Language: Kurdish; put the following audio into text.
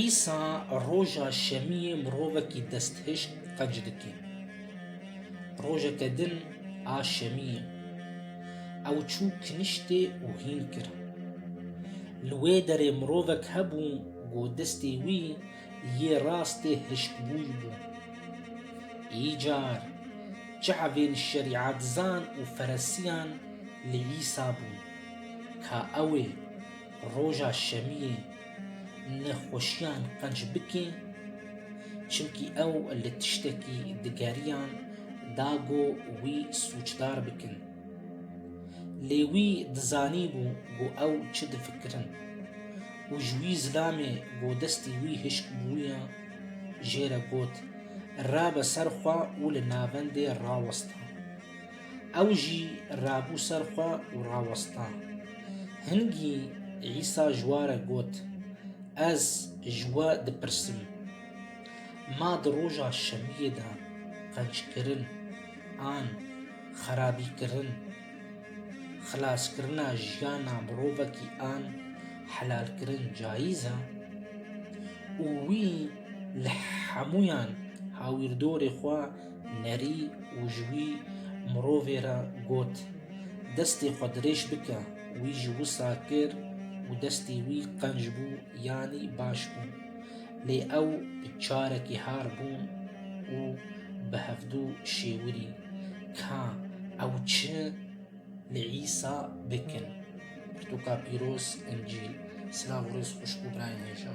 Îsa roja şemiyê mirovekî desthişk qenc dike. Rojeke din a şemiyê ew çû kiniştê û hîn kir. Li wê derê mirovek hebû ku destê wî Yê rastê hişkbûy bû. Îcar çavên şerîatzan û feresiyan li Îsa bûn ka ew ê roja şemiyê nexweşiyan qenc bike çimkî ew li tiştekî digeriyan da go wî sûcdar bikin. Lê wî dizanîbû ku ew çi difikirin û ji wî zilamê ku destê wî hişk bûye jê re got, Rabe ser xwe û li navendê raweste. Ew jî rabû ser xwe û raweste. Hingî Îsa ji we re got, Ez ji we dipirsim, ma di roja şemiyê de qenckirin an? xerabîkirin, xilaskirina jiyana mirovekî an helalkirin cayîz e û wî li hemûyan hawîrdorê xwe nerî û ji wî mirovê re got, destê xwe dirêj bike, wî ji wisa kir û destê wî qenc bû yanî baş bû. Lê ew carekî har bûn û bi hevdu şêwirî ka ew çi li Îsa bikin. Pirtûka pîroz, Încîl. Silav û rêz xweşik û birayên hêja.